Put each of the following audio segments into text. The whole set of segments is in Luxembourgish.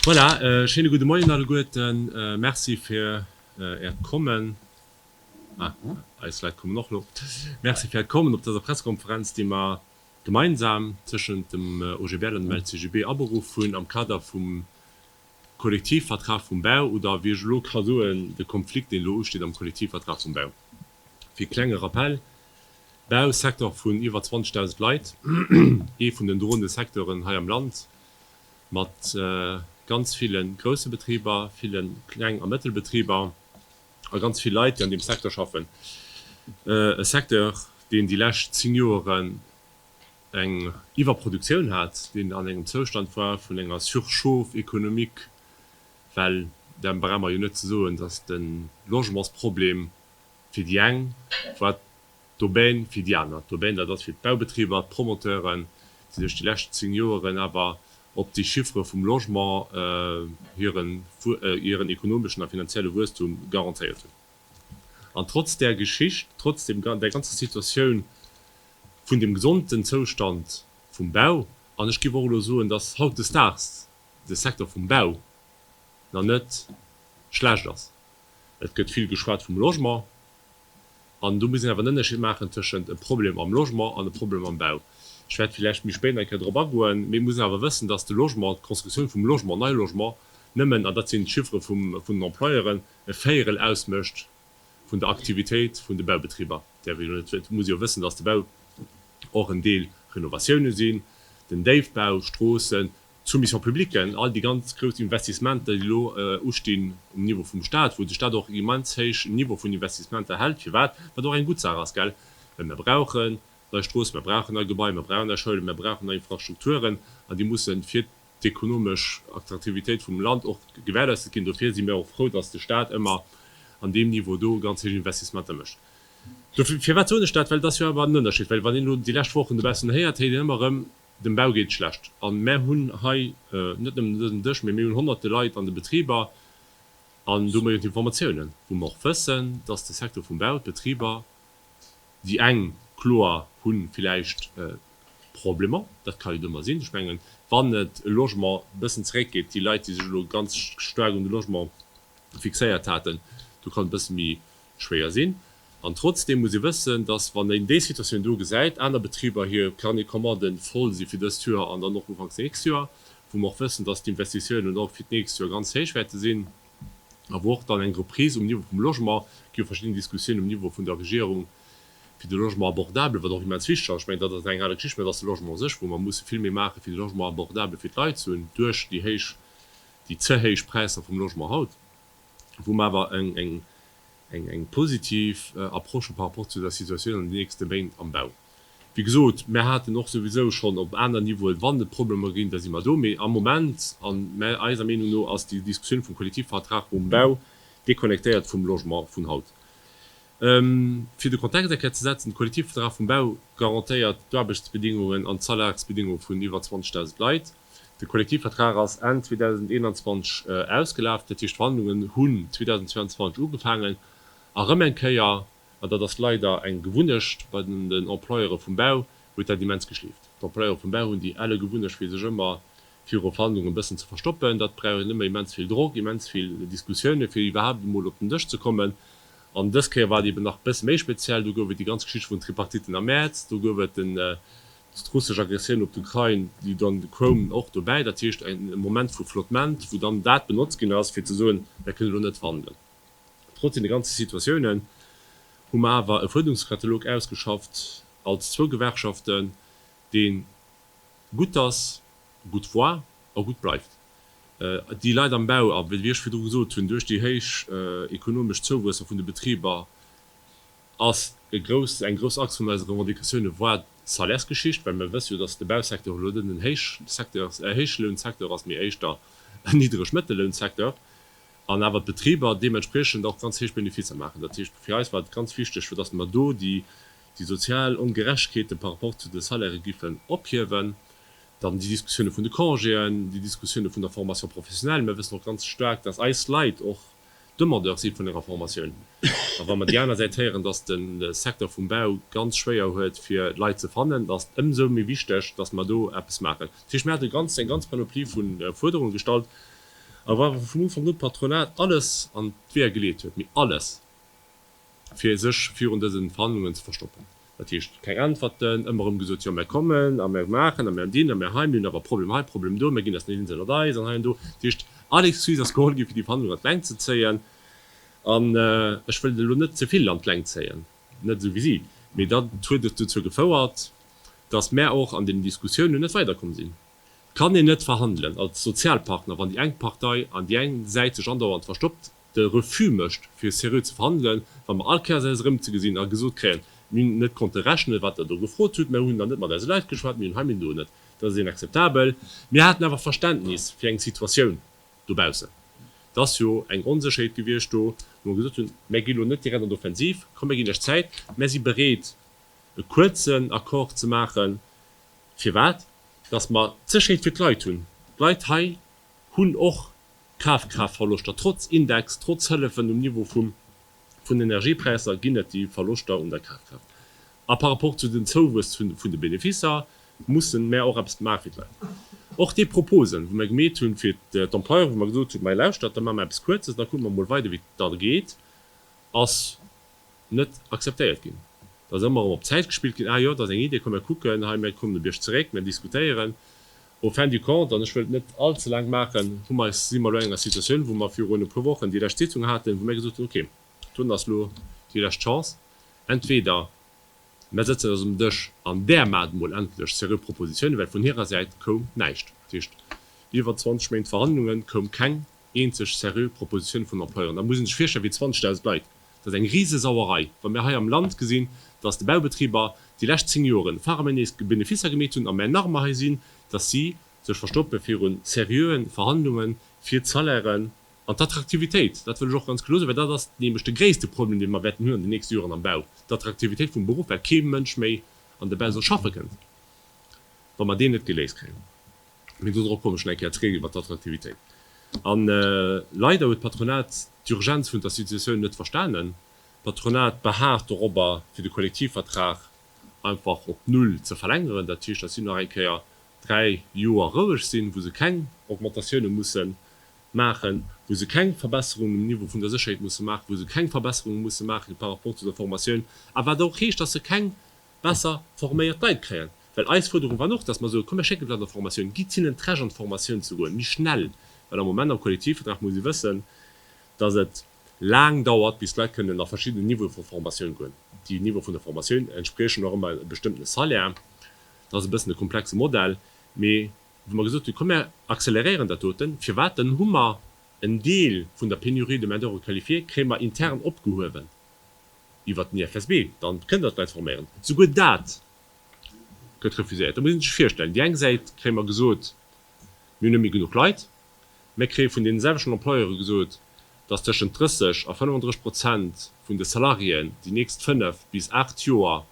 Voilà, e schéine gudde Moien alleguerten. Merci fir Äert Kommen. Ah, eis Leit kommen och elo. Merci fir Äert Kommen op dëser Pressekonferenz, déi mer gemeinsam tëschent dem OGBL an dem LCGB aberuff hunn am Kader vum Kollektivvertrag vum Bau oder, wéi ech elo ka soen, de Konflikt, deen elo usteet am Kollektivvertrag vum Bau. Fir e klenge Rappell, Bau, Secteur vun iwwer 20.000 Leit, ee vun den droende Secteuren hei am Land, mat ganz ville grousse Betriber, ville Kleng a Mëttelbetriber a ganz vill Leit, déi an deem Secteur schaffen. E Secteur, deen déi lescht zéng Joeren, eng Iwwerproduktioun hat, deen an engem Zoustand war vun enger Surchauffe économique, well da brauche mer jo net ze soen, datt de Logementsproblem fir déi eng war d'Aubaine, fir déi aner d'Aubaine, dat ass fir d'Baubetriber, d'Promoteuren, déi sech déi lescht zéng Joeren awer op déi Chiffere vum Logement hiren ekonomeschen a finanzielle Wuesstum garantéiert hunn. An trotz där Geschicht, trotz dem, der ganzer Situatioun vun dem gesondten Zoustand vum Bau, an ech géif och elo soen, dass hautdesdaags de Secteur vum Bau nach net schlecht ass, et gëtt vill geschwat vum Logement, an do muss een awer en Ënnerscheed maachen tëschent e Problem am Logement an e Problem am Bau. Ech wäert villäicht méi spéit nach eng Kéier drop agoen. Mee et muss een awer wëssen, dass de Logement, d'Constructioun vum Logement, nei Logement, nëmmen, an dat sinn d'Chiffere vum, vun den Employeuren, e Véierel ausmécht vun der Aktivitéit vun de Baubetriber. Däerf ee jo net, et muss ee jo wëssen, datt de Bau och en Deel Renovatiounen sinn, den Déifbau, Stroossen, d'Soumission publique, all déi ganz grouss Investissementer, déi elo ustinn um Niveau vum Stat, wou de Stat och en immens héich Niveau vun Investissementer hält, firwat, wat och eng gutt Saach ass, gell, well mir brauchen nei Stroossen, mir brauchen nei Gebaier, mir brauchen nei Schoulen, mir brauchen nei Infrastrukturen, an déi mussen fir. d'ekonomesch Attraktivitéit vum Land och gewährleistet ginn. Dofir si mir och frou, dass de Stat ëmmer an deem Niveau do ganz héich Investissementer mécht. Dofir, firwat soen ech dat? Well et ass jo awer en Ënnerscheed, well wann een elo déi lescht Wochen dobaussen héiert, héiert een ëmmer erëm, dem Bau geet et schlecht. A mär hunn hei net nëmmen un dësem Dësch, mee mir hunn honnerte Leit an de Betriber an domadder jo d'Informatiounen, wou mer och wëssen, dass de Secteur vum Bau, d'Betriber, Déi eng, kloer, hu villäicht Problemer, dat ka jo ëmmer sinn. Ech mengen, wann et e Logement e bëssen zeréckgeet, déi Leit, déi sech elo ganz staark un de Logement fixéiert haten, do kann et e bësse méi schwéier sinn. An trotzdeem muss ee wëssen, dass, wann een déi Situatioun do gesäit, aner Betriber hir Carnets de commande voll si fir dëst Joer an dann och ufanks nächst Joer, wou mer och wëssen, dass d'Investitiounen och fir d'nächst Joer ganz héich wäerte sinn. awer och dann eng Reprise um Niveau vum Logement. Et gi jo verschidden Diskussiounen um Niveau vun der Regierung fir de Logement abordable, wat och immens wichteg ass. Ech mengen, dat ass eng al Geschicht, mä et ass de Logement u sech, wou mer musse vill méi maachen, fir de Logement abordable fir d'Leit ze hunn, duerch déi héich, déi ze héich Präisser vum Logement haut, wou mer awer eng positiv Approche hu par rapport zu der Situatioun an de nächste Méint am Bau. Wéi gesot, mär haten och souwisou schonn op aner Niveauen, wann et Problemer ginn, da si mer do. Mee am Moment, a mär, eiser Meenung no, ass déi Diskussioun vum Kollektivvertrag um Bau deconnectéiert vum Logement vun haut. Fir de Kontext eng Kéier ze setzen, De Kollektivvertrag vum Bau garantéiert d'Aarbechtsbedingungen an d'Salarsbedingunge vun iwwer 20.000 Leit. De Kollektivvertrag ass Enn 2021 ausgelaf, dat heescht d'Verhandlungen hunn 2022 ugefaangen. A rëm eng Kéier. An dat ass leider eng Gewunnecht bei den Employere vum Bau, huet dat immens geschleeft. D'Employere vum Bau hunn déi ale Gewunnecht, fir sech ëmmer viru Verhandlungen e bëssen ze verstoppen. Dat brauch een ëmmer immens vill Drock, immens vill Diskussiounen, fir iwwerhaapt emol op den Dësch ze kommen. An dës Kéier war et eeben nach e bësse méi speziell. Do gouf et déi ganz Geschichte vun Tripartiten am Mäerz. Do gouf et d'russesch Aggressioun op d'Ukrain, déi dann koum, och dobäi. Dat heescht e Moment vu Flottement, wou dann dat benotzt ginn ass, fir ze soen, Mir kënnen elo net verhandelen. Trotz deene ganze Situatiounen hu mer awer e Fuerderungskatalog ausgeschafft als zwou Gewerkschaften, deen gutt ass, gutt war a gutt bleift. Déi Leit am Bau, a wéi ech virdru gesot hunn, duerch déi héich ekonomesch Zouwuesser vun de Betriber ass e grousst, eng grouss Axe vun eise Revendicatiounen war d'Salaires-Geschicht, well mer wësse jo, dass de Bausecteur elo net en Héich-Secteur, Héichlounsecteur ass, mee éischter en Niddreg-Mëttellounsecteur. an awer d'Betriber deementspriechend och ganz héich Beneficer maachen. Dat heescht, fir eis war et ganz wichteg, fir datt mer do déi sozial Ongerechtegkeete par rapport zu de Salairë giffen ophiewen. Dann déi Diskussioune vun de Congéen, déi Diskussioune vun der Formation professionnelle. Mer wëssen och ganz staark, datt eis Leit och Demandeur si vun enger Formatioun. A wa mer déi aner Säit héieren, datt de Secteur vum Bau ganz schwéier huet fir Leit ze fannen, da ass et ëmsou méi wichteg, datt mer do eppes maachen. Dat heescht, mir hate ganz eng ganz Panoplie vu Fuerderunge gestallt, A wa vun Ufank un d'Patronat alles an d'Weeër geleet huet, mee alles, fir sech virun dësen Verhandlungen ze verstoppen, dat heescht, keng Äntwerten, ëmmer erëm gesot, jo mär kommen a mär maachen a mär dinn a mär hei, mir hunn awer e Problem hei, e Problem do, mär ginn eis net eens ënnert eis an hei an do, dat heescht, all Excuse ass geholl ginn, fir déi Verhandlungen an d'Längt ze zéien. An ech wëll et elo net ze vill an d'Längt zéien, net esou wéi si, mee dat huet dozou gefouert, dass mär och an deenen Diskussiounen net weiderkomm sinn. Kann een net verhandelen als Sozialpartner, wann déi eng Partei an déi eng Säit sech andauernd verstoppt, de Refus mécht fir seriö ze verhandelen, wa mer all Kéiers eis erëmzegesinn a gesot kréien, mir hunn net konnte rechnen, wat Der do gefrot hutt, mir hunn dann net mat eise Leit geschwat, mir hunn hei, mir hunn do net. Dat ass inakzeptabel. Mir haten awer Verständnis fir eng Situatioun dobaussen. Et ass jo eng Onsécherheet gewiescht do, wou mer gesot hunn, Mir gi lo net direkt an d'Offensiv, komm mir ginn lech Zäit, mir si bereet e kuerzen Accord ze maachen, Firwat? Datt mer d'Sécherheet fir d'Leit hunn. D'Leit hei hunn och Kafkraaftverloschter, trotz Index, trotz Hëllefen um Niveau vum vun Energiepräisser ginn et déi Verloschter un der Kafkraaft. A par rapport zu den Zouwuess vun de Benefisser mussen mer och eppes maache fir d'Leit. Och déi Proposen, wou mer gemeet hunn, fir d'Employeuren, wou mer gesot hunn, Mei lauschtert, da maache mer eppes Kuerzes, da kucke mer emol weider wéi et da geet, ass. net akzeptéiert ginn. Et ass ëmmer erëm op d'Zäit gespillt ginn, ah jo, et ass eng Idee, komm mir kucken hei, mir kommen e Bierg zeréck, mir diskutéieren. Au fin du compte, an ech wëll et net all ze laang maachen, hu mer, si mer elo an enger Situatioun, wou mer virun e puer Wochen déi lescht Sitzung haten, wou mir gesot hunn, okay, dunn ass elo déi lescht Chance, entweder mer sëtzen eis um Dësch an där maacht emol endlech seriö Propositionen, well vun hirer Säit koum näischt. Dat heescht, iwwer 20 Méint Verhandlungen, koum keng eenzeg seriö Proposition vun Employeuren. Da muss ee sech virstellen, wéi 20.000 Leit, Dat ass eng Risesauerei, wa mir hei am Land gesinn, dass de Baubetriber déi lescht zéng Joren faraméinees Beneficer gemeet hunn, a mer Narmer hei sinn, dass si sech verstoppe viru seriöe Verhandlunge fir d'Salairen an d'Attraktivitéit. Dat wëll ech och ganz kloer soen, well dat ass nämlech de gréisste Problem, dee mer wäerten hunn an den nächste Joren am Bau, d'Attraktivitéit vum Beruff, well kee Mënsch méi an de Bau soll schaffe kënnt, wa mer deen net geléist kréien. Mee dodrop komme schon eng Kéier zréck iwwert d'Attraktivitéit. A leider huet d'Patronat d'Urgenz vun der Situatioun net verstanen. D'Patronat beharrt dorobber, fir de Kollektivvertrag einfach op Null ze verlängeren. Dat heescht, dass si nach eng Kéier dräi Joer roueg sinn, wou se keng Augmentatiounen mussen maachen, wou se keng Verbesserungen um Niveau vun der Sécherheet musse maachen, wou se keng Verbesserungen musse maachen par rapport zu der Formatioun, a wat och heescht, dass se keng besser forméiert Leit kréien, well eis Fuerderung war och, dass mer soe komm mir schécken d'Leit an d'Formatioun, gitt hinnen d'Recht an d'Formatioun ze goen, méi schnell, well am Moment am Kollektivvertrag muss ee wëssen, dass et laang dauert bis d'Leit kënnen a verschiddenen Niveaue vu Formatioun goen, déi Niveaue vun der Formatioun entspriechen och ëmmer e bestëmmtene Salaire, dat ass e bëssen e komplexe Modell, mee wou mer gesot hu komm mir acceleréieren dat doten, firwat dann hu mer en Deel vun der Pénurie de main d'oeuvre qualifiée kréie mer intern opgehuewen, iwwert den IFSB, da kënnt Der d'Leit forméieren. Souguer dat gëtt refuséiert. Da muss een sech virstellen, déi eng Säit kréie mer gesot, mir hunn net méi genuch Leit. Mir kréie vun deene selwechten Employeure gesot, dass tëschent 30 a 35 Prozent vun de Salariéen déi nächst fënnef bis aacht Joer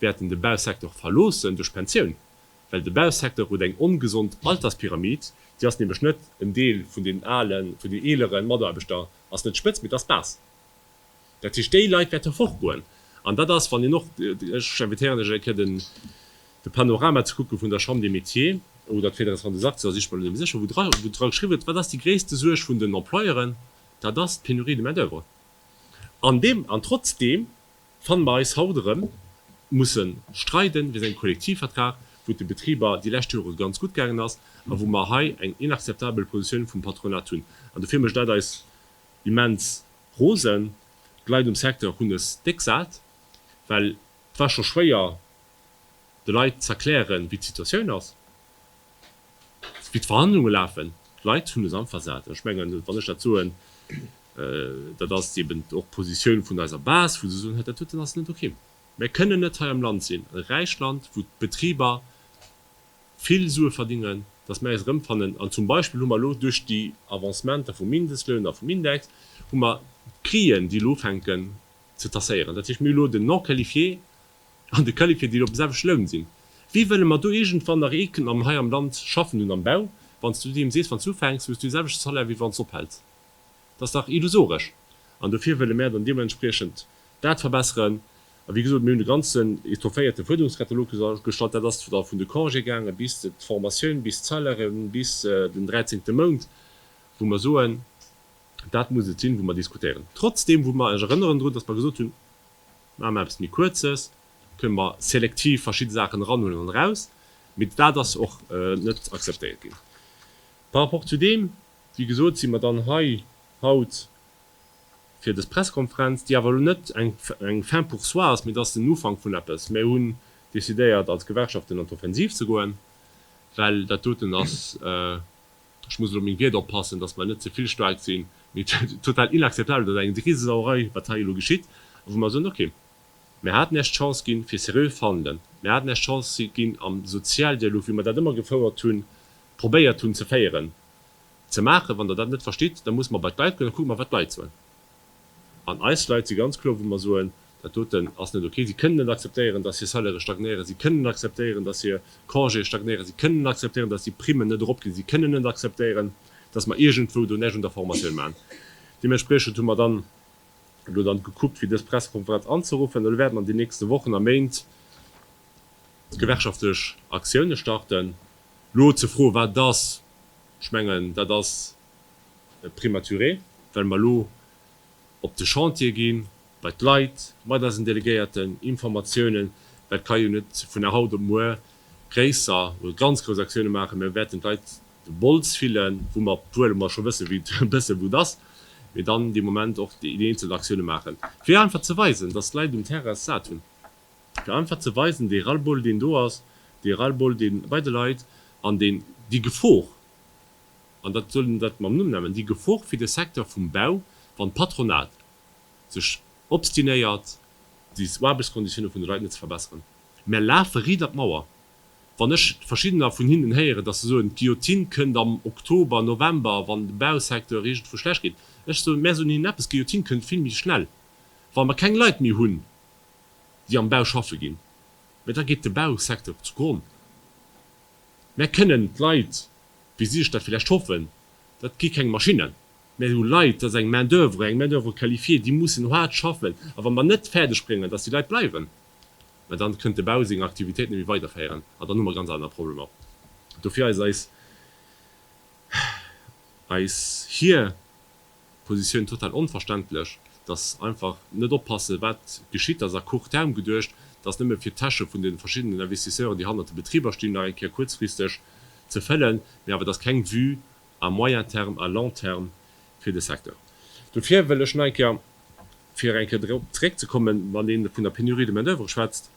wäerten de Bausecteur verloossen duerch d'Pensioun, well de Bausecteur huet eng ongesond Alterspyramid. Déi ass nämlech net, en Deel vun deenen alen, vun deenen eelere Mataarbechter ass net d'Spëtzt, mee et ass d'Bas. Dat heescht, déi Leit wäerte fortgoen. An dat ass, wann een och, ech invitéieren lech eng Kéier den Panorama ze kucke vun der Chambre des Métiers oder d'Fédération des Artisans, ech mol net sécher, wou dra geschriwwen huet, wat ass déi gréisste Suerg vun den Employeuren, dat ass d'Pénurie de main-d'oeuvre. An deem, an trotzdeem fanne mer eis haut erëm musse streide wéinst engem Kollektivvertrag, wou et de Betriber déi lescht Jore ganz gutt gaangen ass a wou mer hei eng inakzeptabel Positioun vum Patronat hunn. An dofir mécht dat eis Immens rosen. D'Leit um Secteur hunn es déck sat, well et war scho schwéier de Leit z'erklären, wéi d'Situatioun ass, wéi d'Verhandlunge lafen. D'Leit hunn es einfach sat. Ech mengen, wann ech dat soen, dat ass eben och d'Positioun vun eiser Base, wou se soen, dat doten ass net ok. Mir kënnen net hei am Land sinn, e räicht Land, wou d'Betriber vill Sue verdingen, datt mer eis erëmfannen an zum Beispill hu mer elo duerch déi Avancementer vum Mindestloun a vum Index hu mer d'Prixen, déi elo ufänken ze tasséieren. Dat heescht, mir hu elo den Non-qualifié an de Qualifié, déi elo op dem selwechte Loun sinn. Wéi wëlle mer do iergendwann nach ee kënnen am hei am Land schaffen hunn am Bau, wann s du deem sees, wann s du ufänks, hues du dee selwechte Salaire, wéi wann s ophäls? Dat ass dach illusoresch. An dofir wëlle mer dann deementspriechend dat verbesseren, A wéi gesot, mir hunn e ganzen étofféierte Fuerderungskatalog gestallt. Dat ass da vun de Congé gaange bis d'Formatioun, bis d'Salairen, bis den dräizéngte Mount, wou mer soen, dat muss et sinn, wou mer diskutéieren. Trotzdeem, wou mer, ech erënneren drun, datt mer gesot hunn, maache mer eppes méi Kuerzes, kënne mer selektiv verschidde Saachen eranhuelen an eraus, mee dat ass och net akzeptéiert ginn. Par rapport zu deem, wéi gesot, si mer dann hei haut fir des Pressekonferenz, déi awer elo net eng Fin pour soi ass, mee et ass den Ufank vun eppes. Mir hunn decidéiert als Gewerkschaften an d'Offensiv ze goen, well dat doten ass, ech muss elo meng Wierder oppassen, datt mer net ze vill staark sinn, mee total inakzeptabel, datt eng Risesauerei, wat hei elo geschitt, a wou mer soen, ok, mir haten Iech d'Chance ginn, fir seriö verhandelen, mir haten Iech d'Chance ginn am Sozialdialog, wéi mer dat ëmmer gefouert hunn, probéiert hunn ze féieren. Ze maachen. Wann Der dat net verstitt, da musse mer bei d'Leit goen, da kucke mer wat d'Leit soen. An eis Leit si ganz kloer, wou mer soen, dat doten ass net ok. Si kënnen net akzeptéieren, datt hir Salairë stagnéieren, si kënnen net akzeptéieren, datt hir Congéë stagnéieren, si kënnen net akzeptéieren, datt déi Primmen net eropginn, si kënnen net akzeptéieren, datt mer iergendwou do näischt un der Formatioun maachen. Deementspriechend hu mer dann elo dann gekuckt, fir dës Pressekonferenz anzeruffen. Elo wäerte mer an den nächste Wochen a Méint gewerkschaftlech Aktiounen starten. Lo ze froen, wat et ass, ech mengen, dat ass prématuré, well mer elo op de Chantier ginn, bei d'Leit, mat eisen Delegéierten, Informatiounen, dat ka jo net vun der haut op muer gréisser oder ganz grouss Aktiounen maachen. Mir wäerten d'Leit de Bols fillen, wou mer d'Zuele, wou mer scho wëssen, wéi et e bësse gutt ass, mee dann dee Moment och déi eenzel Aktiounen maachen, fir einfach ze weisen, dass d'Leit um Terrain et sat hunn. Fir einfach ze weisen, dee Ras-le-bol, deen do ass, dee Ras-le-bol, dee bei de Leit an deen, déi Gefor, an dat soll een dat mam Numm nennen, déi Gefor fir de Secteur vum Bau, wann d'Patronat sech obstinéiert, déi Aarbechtskonditiounen vun de Leit net ze verbessern. Mär lafe ridder d'Mauer. Wann ech verschiddener vun hinnen héieren, dass se soen, d'Guillotine kënnt am Oktober, November, wann de Bausecteur iergendwou schlecht geet. Ech soen, mär soen hinnen eppes, d'Guillotine kënnt vill méi schnell, wa mer keng Leit méi hunn, déi am Bau schaffe ginn, mä da geet de Bausecteur zu Gronn. Mär kënnen d'Leit, wéi si sech dat villäicht hoffen, dat gi keng Maschinnen, mä et hu Leit, dat ass eng Main d'oeuvre, eng Main d'oeuvre qualifiée, déi mussen haart schaffen. A wa mer net fäerdeg bréngen, dass déi Leit bleiwen, mä dann kënnt de Bau seng Aktivitéit net méi weiderféieren an dann hu mer ganz aner Problemer. Dofir ass eis, eis, hir. Positioun total onverständlech, dass einfach net oppassen wat geschitt, dass à court terme geduecht, dass nëmme fir d'Täsche vun de verschiddenen Investisseuren déi hannert de Betriber stinn nach eng Kéier kuerzfristeg ze fëllen, mä awer dass keng Vue à moyen terme, à long terme fir de Secteur. Dofir wëll ech nach eng Kéier, fir eng Kéier drop zeréckzekommen, wann ee vun der Pénurie de main d'oeuvre schwätzt,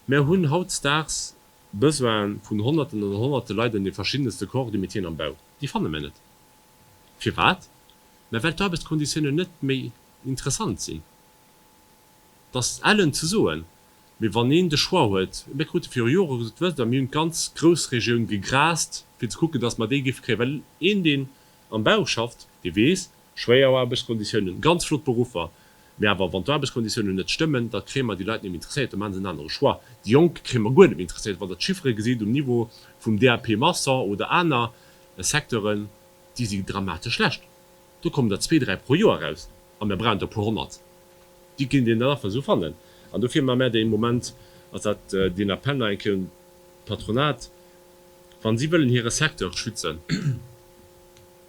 Mir hunn hautdesdaags Besoine vun Honnerten an Honnerte Leit an de verschiddenste Corps de métieren am Bau, déi fanne mir net. Firwat? Mä well d'Aarbechtsconditiounen net méi interessant sinn. Et ass ellen ze soen, mee wann een de Choix huet, mir krute viru Jore gesot, wësst Der, mir hunn d'ganz Groussregioun gegrast, fir ze kucken, dass mer déi géife kréien, well een, deen am Bau schafft, dee weess, schwéier Aarbechtsconditiounen, ganz flott Beruffer. Mä awer, wann d'Aarbechtskonditiounen net stëmmen, da kréie mer déi Leit net méi interesséiert, da maache se en anere Choix. Déi Jonk kréie mer guer net méi interesséiert. Wann Der d'Chiffere gesitt um Niveau vum DAP Maçon oder aner Secteuren, déi si dramatesch schlecht. Do kommen der zwee, dräi pro Joer eraus a mir brauchen der e puer honnert. Déi kinnt een dann nach esou fannen. An dofir maache mär dee Moment, ass dat deen Appell nach eng Kéier un d'Patronat, wa si wëllen hire Secteur schützen,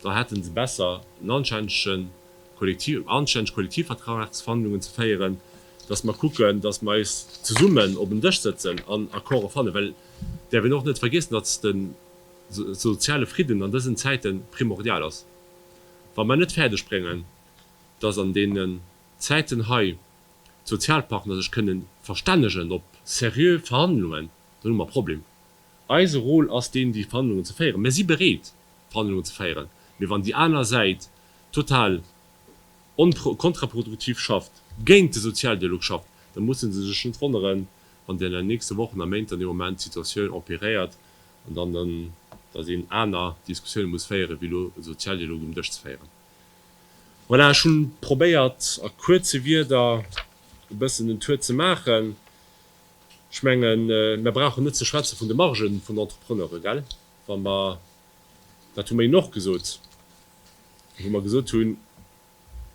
da hätten se besser en anständigen Kollektiv, anständig Kollektivvertragsverhandlungen ze féieren, dass mer kucken, dass mer eis zesummen op en Dësch sëtzen an Accorde fannen, well däerf een och net vergeessen, dass de soziale Fridden an dësen Zäiten primordial ass. Wa mer net fäerdeg bréngen, dass an deenen Zäiten hei d'Sozialpartner sech kënnen verstännegen op seriö Verhandlungen, dann hu mer e Problem. Eise Rôle ass deen, déi Verhandlungen ze féieren. Mir si bereet, Verhandlungen ze féieren. Mee wann déi aner Säit total onpro-, kontraproduktiv schafft, géint de Sozialdialog schafft, da musse se sech net wonneren, wann dann an den nächste Wochen a Méint dann ee Moment d'Situatioun empiréiert an dann dann, dass een aner Diskussiounen muss féieren, wéi elo e Sozialdialog um Dësch ze féieren. Voilà, ech hu probéiert, a kuerze Wieder e bëssen den Tour ze maachen. Ech mengen, mer brauchen net ze schwätze vun de Margen vun Entrepreneure, gell, wa mer, dat hu mer Innen och gesot, wou mer gesot hunn,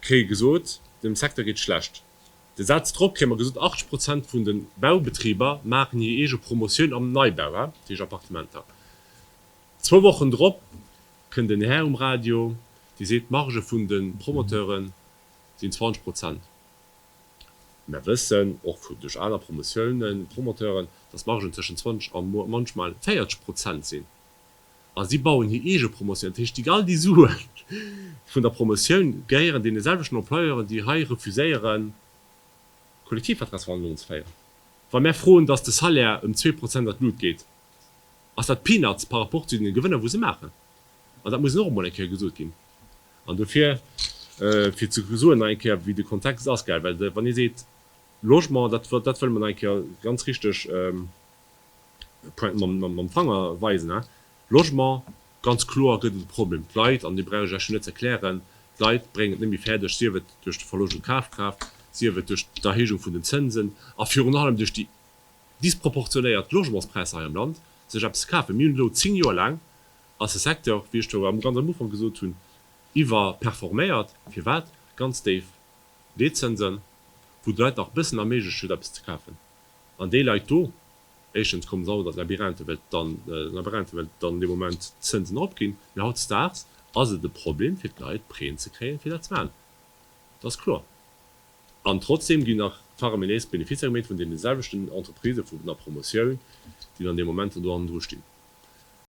kréie gesot, dem Secteur geet schlecht. De Saz drop kréie mer gesot, 80 Prozent vun de Baubetriber maachen hir eege Promotioun am Neibau, dat heescht Appartementer. Zwou Wochen drop kënnt en Här um Radio, dee seet, d'Marge vun de Promoteure sinn 20 Prozent. Mär wëssen och vu duerch aner Promotiounen, Promoteuren, dass d'Margen zwëschen 20 a manchmal 40 Prozent sinn. A si bauen hir eege Promotioun. Dat heescht, déi all déi Sue vun der Promotioun gehéieren deene selwechten Employeuren, déi hei refuséieren, Kollektivvertragsverhandlungen ze féieren. Wa mär froen, dass de Salaire ëm zwee Prozent an d'Lut geet, ass dat Peanuts par rapport zu deene Gewënner, wou se maachen. An dat muss och emol eng Kéier gesot ginn. An dofir, fir ze soen nach eng Kéier, wéi de Kontext ass, gell, well wann ee seet, Logement, dat wëlle mer nach eng Kéier ganz richteg mam Fanger weisen, Logement, ganz kloer gëtt et e Problem. D'Leit, an dee brauch ech lech jo net ze erklären, d'Leit bréngen et net méi fäerdeg, sief et duerch de Verloscht un Kafkraaft, sief et duerch d'Erhéijung vun den Zënsen a virun allem duerch déi disproportionéiert Logementspräisser hei am Land, sech eppes ze kafen. Mir hunn elo zéng Joer laang ass e Secteur, wéi ech do am ganz am Ufank gesot hunn, iwwerperforméiert. Firwat? Ganz déif Leetzënsen, wou d'Leit nach e bëssen erméiglecht huet, eppes ze kafen. An déi Leit do, éischtens komme se haut an Labyrinthe, well dann Labyrinthe, well dann an deem Moment d'Zënsen eropginn. Mee hautdesdaags ass et e Problem fir d'Leit, Prêten ze kréien, fir dat ze maachen. Dat ass kloer. An trotzdem ginn nach faraminés Beneficer gemeet vun deene selwechten Entreprisë vun der Promotioun, déi dann an deem Moment do hannendru stinn.